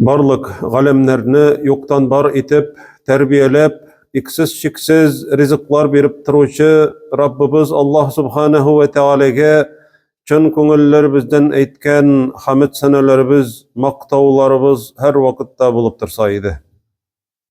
Барлык галәмнәрне юктан бар итеп тәрбияләп, иксез-чиксез ризыклар биреп торучы Раббыбыз Аллаһ Субханаһу ва Тәгаләгә чын күңелләребездән әйткән хәмд сәнәләребез, мактауларыбыз һәрвакытта булып торса иде.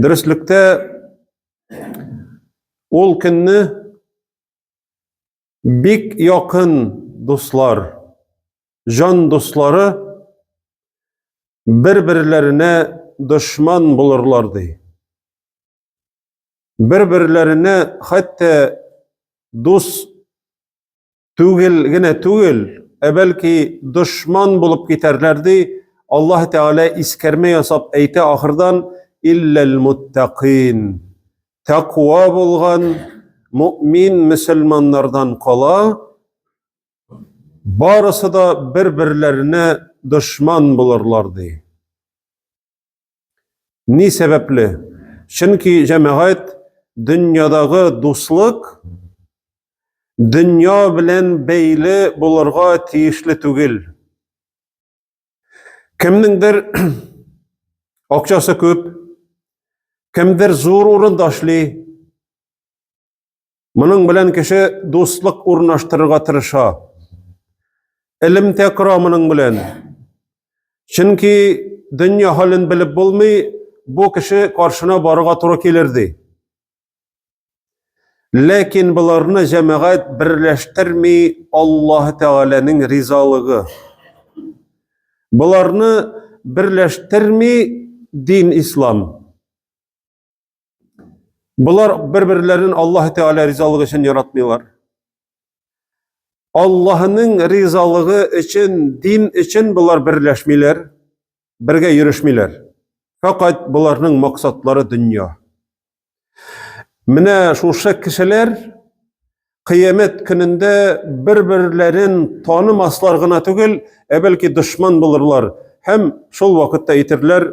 Дөреслектә ул көнне бик якын дуслар, җан дуслары бер-берләренә дошман булырлар ди. Бер-берләренә хәтта дус түгел генә түгел, ә бәлки дошман булып китәрләр ди. Аллаһ Тәгалә искәрмә ясап әйтә ахырдан илләл муттакин. Тәкъва булган мөмин мөселманнардан кала, барысы да бер-берләренә дошман булырлар ди. Ни сәбәпле? Чөнки җәмәгать дөньядагы дуслык дөнья белән бәйле булырга тиешле түгел. Кемнеңдер акчасы күп, кемдер зур урында эшли, Моның белән кеше дуслык урнаштырырга тырыша. Элемтә кора моның белән. Чөнки дөнья хален белеп булмый, бу кеше каршына барырга туры килер ди. Ләкин боларны җәмәгать берләштерми Аллаһ Тәгаләнең ризалыгы. Боларны берләштерми дин ислам. Болар бер-берләрен Аллаһ Тәгалә ризалыгы өчен яратмыйлар. Аллаһның ризалыгы өчен, дин өчен болар берләшмиләр, бергә йөрешмиләр. Фәкать боларның максатлары дөнья. Менә шушы кешеләр кыямәт көнендә бер-берләрен танымаслар гына түгел, ә бәлки дошман булырлар һәм шул вакытта әйтерләр,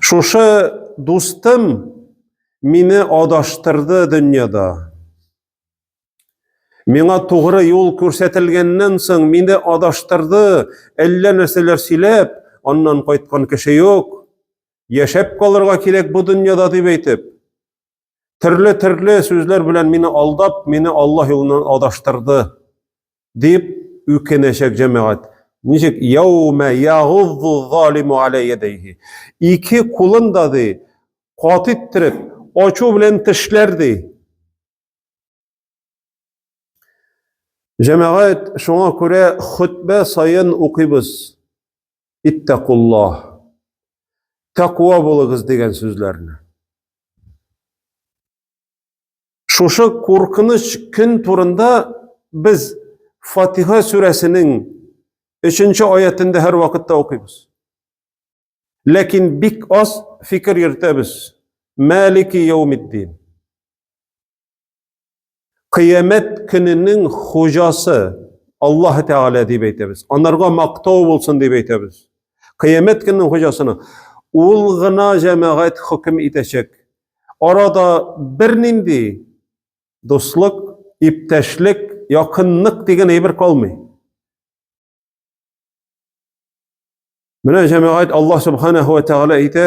Шушы дустым мине адаштырды дөньяда. Миңа тугры юл күрсәтелгәннән соң мине адаштырды, әллә нәрсәләр сөйләп, аннан кайткан кеше юк. Яшәп калырга кирәк бу дөньяда дип әйтеп, Төрле-төрле сүзләр белән мине алдап, мине Аллаһ юлыннан адаштырды, дип үкенәчәк җәмәгать. Ничек? Яумә ягуззу залиму аля ядайһи. Ике кулын да ди, кат иттереп, ачу белән тешләр ди. Җәмәгать, шуңа күрә хөтбә саен укыйбыз. Иттәкуллаһ. Тәква булыгыз дигән сүзләрне. Шушы куркыныч көн турында без Фатиха сүрәсенең 3-нче аятендә һәр вакытта укыйбыз. Ләкин бик аз фикер йөртәбез. Мәлики яумиддин. Кыямәт көненең хуҗасы Аллаһ Тәгалә дип әйтәбез. Анарга мактау булсын дип әйтәбез. Кыямәт көненең хуҗасына ул гына җәмәгать хөкем итәчәк. Арада бернинди дуслык, иптәшлек, якынлык дигән әйбер калмый. Менә җәмәгать Аллаһ Субханаһу ва Тәгалә әйтә,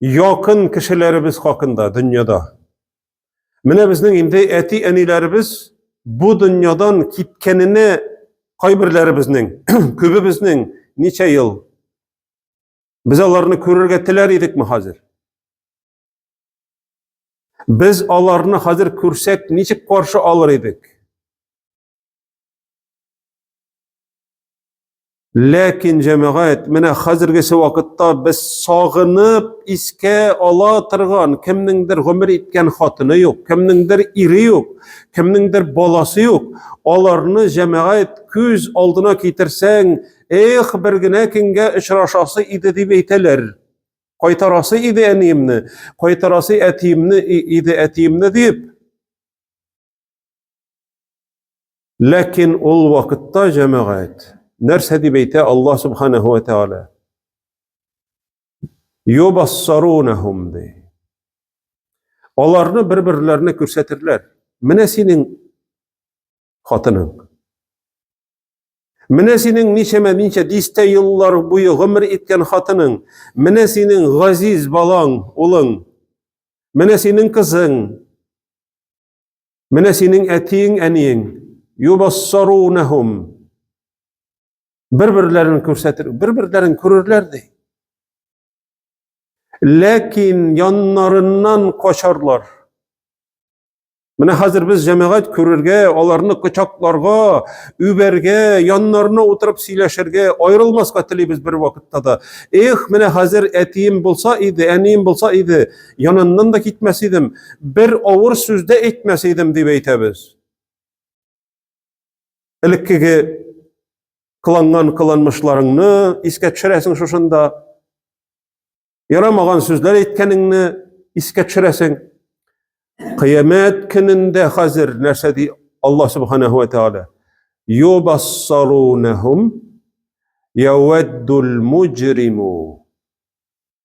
якын кешеләребез хакында дөньяда. Менә безнең инде әти-әниләребез бу дөньядан киткәненә кайберләребезнең, күбебезнең ничә ел без аларны күрергә теләр идекме хәзер? Без аларны хәзер күрсәк, ничек каршы алыр идек? Ләкин җәмәгать, менә хәзергесе вакытта без сагынып искә ала торган кемнеңдер гомер иткән хатыны юк, кемнеңдер ире юк, кемнеңдер баласы юк. Аларны җәмәгать күз алдына китерсәң, эх, бер генә көнгә очрашасы иде дип әйтәләр. Кайтарасы иде әниемне, кайтарасы әтиемне иде әтиемне дип. Ләкин ул вакытта җәмәгать нәрсә дип әйтә Аллаһ субханаһу ва тааля? Юбассарунахум ди. Аларны бер-берләренә күрсәтерләр. Менә синең хатының. Менә синең ничәмә ничә дистә еллар буе гомер иткән хатының. Менә синең газиз балаң, улың. Менә синең кызың. Менә синең әтиең, әниең, юбассарунахум. Бер-берләрен күрсәтер, бер-берләрен күрерләр ди. Ләкин яннарыннан качарлар. Менә хәзер без җәмәгать күрергә, аларны кочакларга, үбәргә, яннарына утырып сөйләшергә, аерылмаска телибез бер вакытта да. Эх, менә хәзер әтием булса иде, әнием булса иде, Яныннан да китмәс идем, бер авыр сүз дә әйтмәс идем дип әйтәбез. Элеккеге кыланган кыланмышларыңны искә төшерәсең шушында. Ярамаган сүзләр әйткәнеңне искә төшерәсең. Кыямәт көнендә хәзер нәрсә ди Алла субханаһу ва тааля? Юбассарунахум яуаддул муҗриму.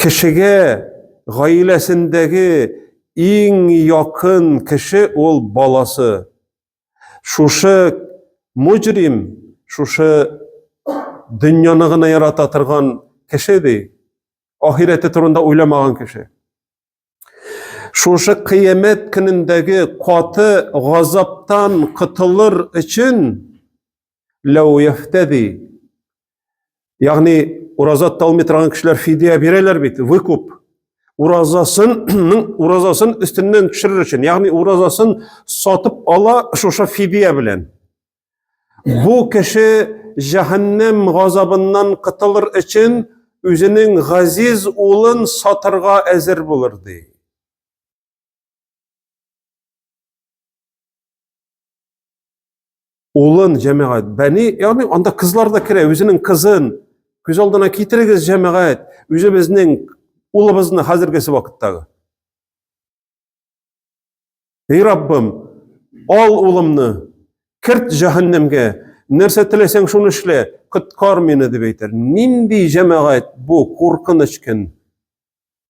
Кешегә гаиләсендәге иң якын кеше ул баласы. Шушы мөҗрим, шушы дөньяны гына ярата торган кеше ди. Ахирәте турында уйламаган кеше. Шушы кыямәт көнендәге каты газаптан котылыр өчен ләу яхтәди. Ягъни ураза тоталмый торган кешеләр фидия бирәләр бит, выкуп. Уразасының уразасын өстеннән төшерер өчен, ягъни уразасын сатып ала шушы фидия белән. Бу кеше җәһәннәм газабыннан кытылыр өчен үзенең газиз улын сатырга әзер булыр ди. Улын җәмәгать, бәни, ягъни анда кызлар да керә, үзенең кызын күз алдына китерегез җәмәгать, үзебезнең улыбызны хәзергесе вакыттагы. Эй Раббым, ал улымны, керт җәһәннәмгә, нәрсә теләсәң шуны эшлә, коткар мине дип әйтер. Нинди җәмәгать бу, куркыныч көн.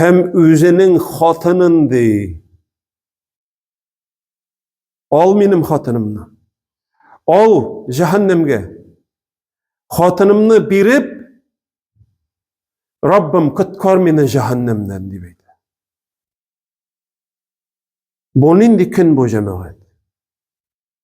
һәм үзенең хатынын ди. Ал минем хатынымны. Ал җәһәннәмгә. Хатынымны биреп, Раббым, коткар мине җәһәннәмнән дип әйтә. Бу нинди көн бу җәмәгать?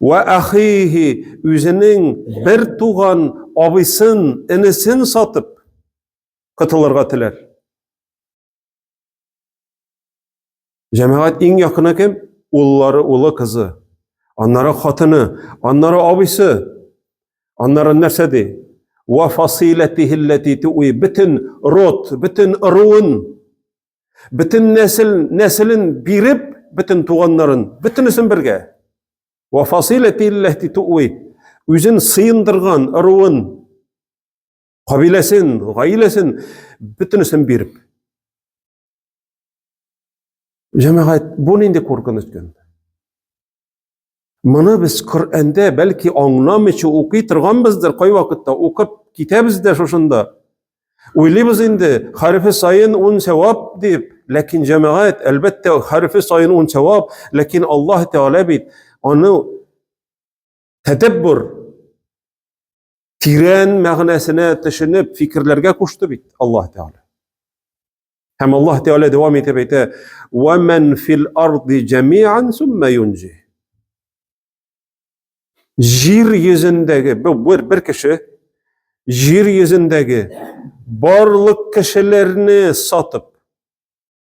Вә ахихи үзенең бер туган абыйсын, энесен сатып котылырга теләр. Җәмәгать иң якыны кем? Уллары, улы, кызы. Аннары хатыны, аннары абыйсы. Аннары нәрсә ди? Ва фасилатихи ллати туи битен рот, битен руын Бөтен нәсел, нәселен биреп, бөтен туганнарын, бөтенесен бергә. Ва фасиләти илләһти туи. Үзен сыендырган ыруын, кабиләсен, гаиләсен бөтенесен биреп. Җәмәгать, бу нинди куркыныч көн? Моны без Коръәндә бәлки аңламыйча укый торганбыздыр, кайвакытта укып китәбез дә шушында. Уйлыйбыз инде, хәрефе сайын ун сәвап дип, ләкин җәмәгать, әлбәттә, хәрефе сайын ун сәвап, ләкин Аллаһ Тәгалә бит аны тәдәббур тирән мәгънәсенә төшенеп, фикерләргә кушты бит Аллаһ Тәгалә. Һәм Аллаһ Тәгалә дәвам итеп әйтә: "Ва ман фил арди җамиан сумма юнҗи". Җир йөзендәге бер бер кеше җир йөзендәге барлык кешеләрне сатып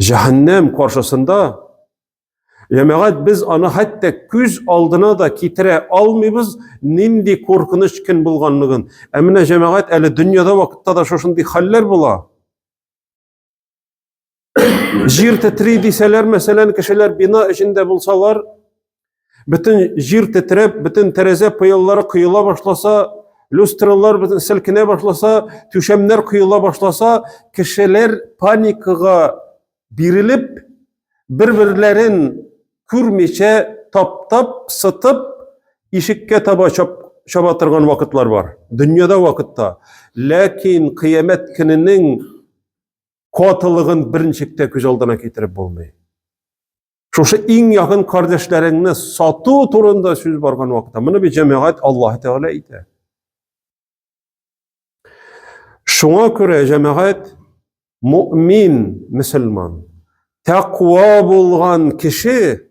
Җәһәннәм каршысында Җәмәгать без аны хәтта күз алдына да китерә алмыйбыз, нинди куркыныч көн булганлыгын. Ә менә җәмәгать әле дөньяда вакытта да шушындый хәлләр була. Җир тетри дисәләр, мәсәлән, кешеләр бина эчендә булсалар, Бөтен җир тетрәп, бөтен тәрәзә пыяллары коела башласа, люстралар бөтен селкенә башласа, түшәмнәр коела башласа, кешеләр паникага бирелеп, бер-берләрен күрмичә таптап, сытып, ишеккә таба чап, чаба торган вакытлар бар. Дөньяда вакытта. Ләкин кыямәт көненең катылыгын берничек тә күз алдына китереп булмый. Шушы иң якын кардәшләреңне сату турында сүз барган вакытта, моны бит җәмәгать Аллаһ Тәгалә әйтә. Шуңа күрә җәмәгать мөмин, мөселман, тәкъва булган кеше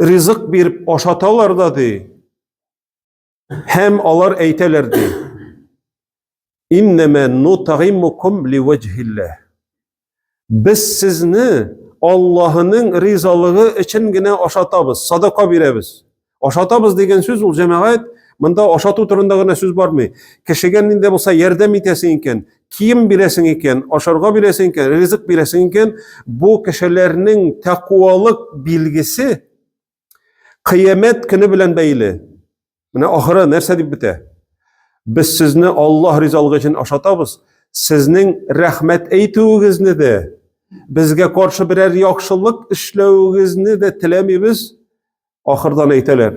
ризык биреп ашаталар да ди. Һәм алар әйтәләр ди. Иннәмә нутагимукум ливаҗһиллә. Без сезне Аллаһының ризалыгы өчен генә ашатабыз, садака бирәбез. Ашатабыз дигән сүз ул җәмәгать, монда ашату турында гына сүз бармый. Кешегә нинди булса ярдәм итәсең икән, кием бирәсең икән, ашарга бирәсең икән, ризык бирәсең икән, бу кешеләрнең тәкуалык билгесе кыямәт көне белән бәйле. Менә ахыры нәрсә дип бетә? Без сезне Аллаһ ризалыгы өчен ашатабыз. Сезнең рәхмәт әйтүегезне дә, безгә каршы берәр яхшылык эшләвегезне дә теләмибез. Ахырдан әйтәләр.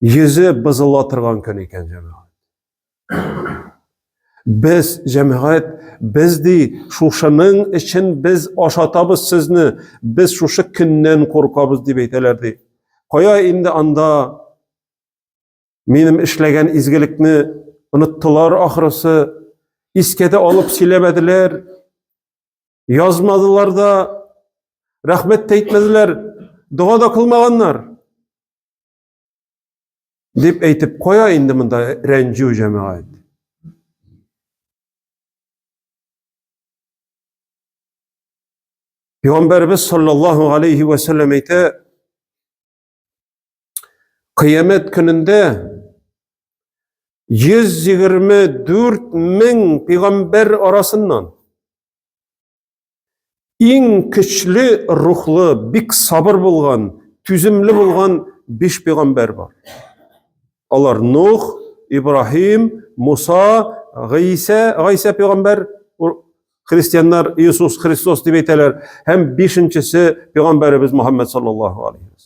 йөзе бозыла торган көн икән җәмәгать. Без җәмәгать, без ди, шушының өчен без ашатабыз сезне, без шушы көннән куркабыз дип әйтәләр ди. Кая инде анда минем эшләгән изгелекне оныттылар ахрысы, искә дә алып сөйләмәделәр, язмадылар да, рәхмәт тә әйтмәделәр, дога да кылмаганнар. Дип әйтеп куя инде монда рәнҗү җәмәгать. Пәйгамбәрбез саллаллаһу алейхи ва саллям әйтә: Кыямәт көнендә 124 мең пәйгамбәр арасыннан Иң көчле рухлы, бик сабыр булган, түземле булган биш пәйгамбәр бар. Алар Нух, Ибраһим, Муса, Гыйса, Гыйса пәйгамбәр, христианнар Иисус Христос дип әйтәләр, һәм бишенчесе пәйгамбәребез Мухаммад саллаллаһу алейһи ва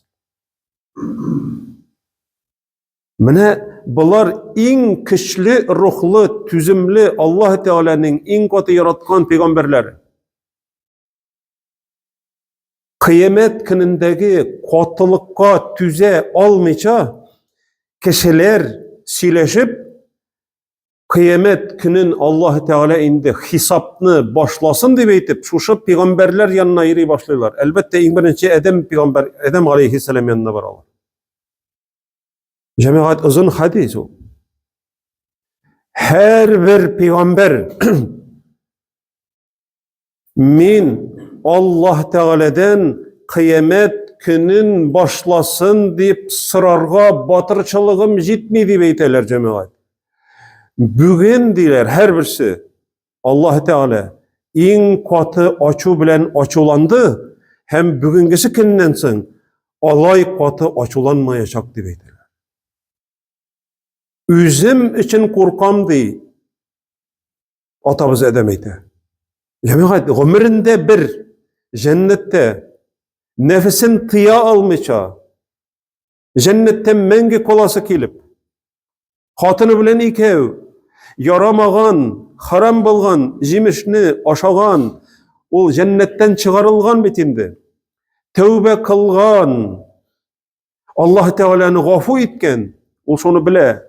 Менә болар иң көчле рухлы, түземле Аллаһ Тәгаләнең иң каты яраткан пәйгамбәрләре. Кыямәт көнендәге катылыкка түзә алмыйча кешеләр сөйләшеп Кыямәт көнен Аллаһ Тәгалә инде хисапны башласын дип әйтеп, шушы пигамбәрләр янына йөри башлыйлар. Әлбәттә, иң беренче Адәм пигамбәр, Адәм алейхиссалам янына баралар. Җәмәгать озын хадис ул. Һәр бер пигамбәр Мин Аллаһ Тәгаләдән кыямәт көнен башласын дип сорарга батырчылыгым җитми дип әйтәләр җәмәгать. Бүген диләр һәрберсе Аллаһ Тәгалә иң каты ачу белән ачуланды һәм бүгенгесе көннән соң алай каты ачуланмаячак дип әйтәләр. Үзем өчен куркам ди. Атабыз Адәм әйтә. Җәмәгать гомерендә бер җәннәттә нәфесен тыя алмыйча, җәннәттә мәңге каласы килеп, хатыны белән икәү ярамаган, харам булган җимешне ашаган, ул җәннәттән чыгарылган бит инде. Тәүбә кылган, Аллаһ Тәгаләне гафу иткән, ул шуны белә.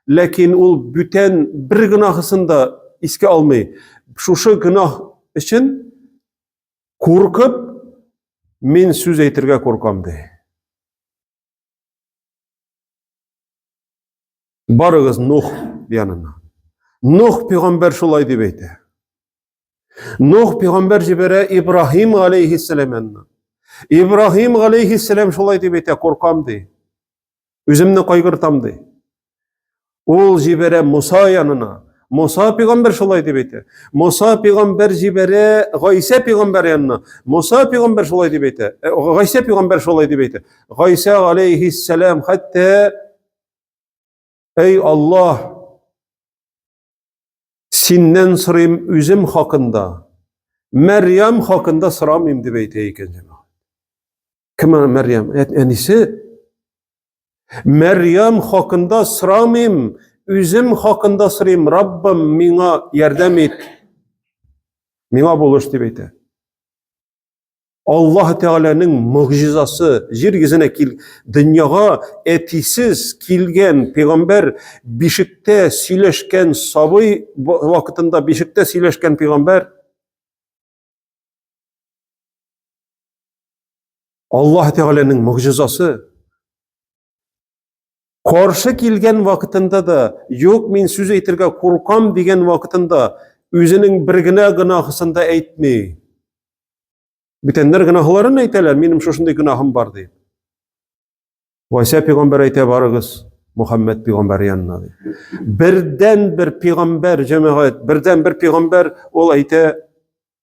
Ләкин ул бүтән бер гөнаһысын да искә алмый. Шушы гөнаһ өчен куркып, мин сүз әйтергә куркам ди. Барыгыз Нух янына. Нух пәйгамбәр шулай дип әйтә. Нух пигамбәр җибәрә Ибраһим галәйһиссәлам янына. Ибраһим галәйһиссәлам шулай дип әйтә, куркам ди. Үземне кайгыртам ди. Ул җибәрә Муса янына. Муса пигамбәр шулай дип әйтә. Муса пигамбәр җибәрә Гайсә пигамбәр янына. Муса пигамбәр шулай дип әйтә. Э, Гайсә пигамбәр шулай дип әйтә. Гайсә галәйһиссәлам хәтта Эй Аллаһ, Синнән сорыйм үзем хакында, Мәрьям хакында сорамыйм дип әйтә икән җәмәгать. Кем ана Мәрьям? Әнисе? Мәрьям хакында сорамыйм, үзем хакында сорыйм, Раббым, миңа ярдәм ит. Миңа булыш дип әйтә. Аллаһ Тәгаләнең мөгъҗизасы җир йөзенә кил дөньяга әтисез килгән пәйгамбәр бишектә сөйләшкән сабый вакытында бишектә сөйләшкән пәйгамбәр Аллаһ Тәгаләнең мөгъҗизасы Каршы килгән вакытында да, юк, мин сүз әйтергә куркам дигән вакытында үзенең бер генә гөнаһысын да әйтми. Бүтәннәр гөнаһларын әйтәләр, минем шушындый гөнаһым бар дип. Вася пигамбәр әйтә барыгыз, Мухаммед пигамбәр янына ди. Бердән бер пигамбәр җәмәгать, бердән бер пигамбәр ул әйтә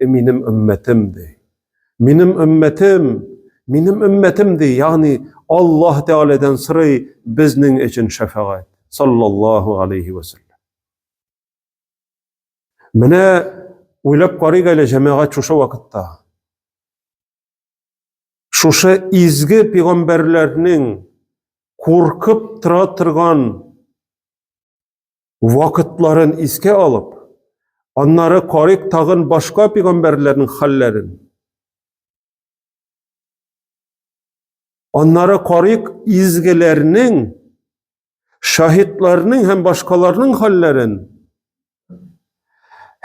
И минем өммәтем, ди. Минем өммәтем, минем өммәтем, ди. Ягъни Аллаһ Тәгаләдән сорый безнең өчен шәфәгать. Саллаллаһу алейхи ва саллям. Менә уйлап карыйк әле җәмәгать шушы вакытта. Шушы изге пигамбәрләрнең куркып тора торган вакытларын искә алып, аннары карыйк тагын башка пигамбәрләрнең хәлләрен. Аннары карыйк изгеләрнең, шаһитларның һәм башкаларның хәлләрен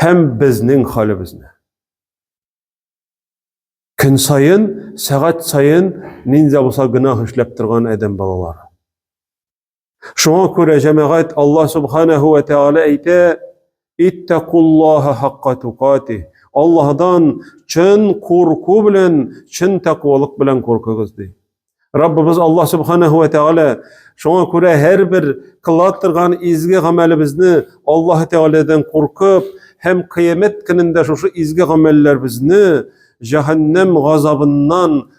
һәм безнең хәлебезне. Көн сайын, сәгать сайын нинди булса гөнаһ эшләп торган адәм балалары. Шуңа күрә җәмәгать Аллаһ субханаһу ва тааля әйтә: "Иттакуллаһа хакка тукати". Аллаһдан чын курку белән, чын тәкъвалык белән куркыгыз ди. Раббыбыз Аллаһ субханаһу ва тааля шуңа күрә һәрбер кыла торган изге гамәлебезне Аллаһ таалядан куркып һәм кыямәт көнендә шушы изге гамәлләребезне җәһәннәм газабыннан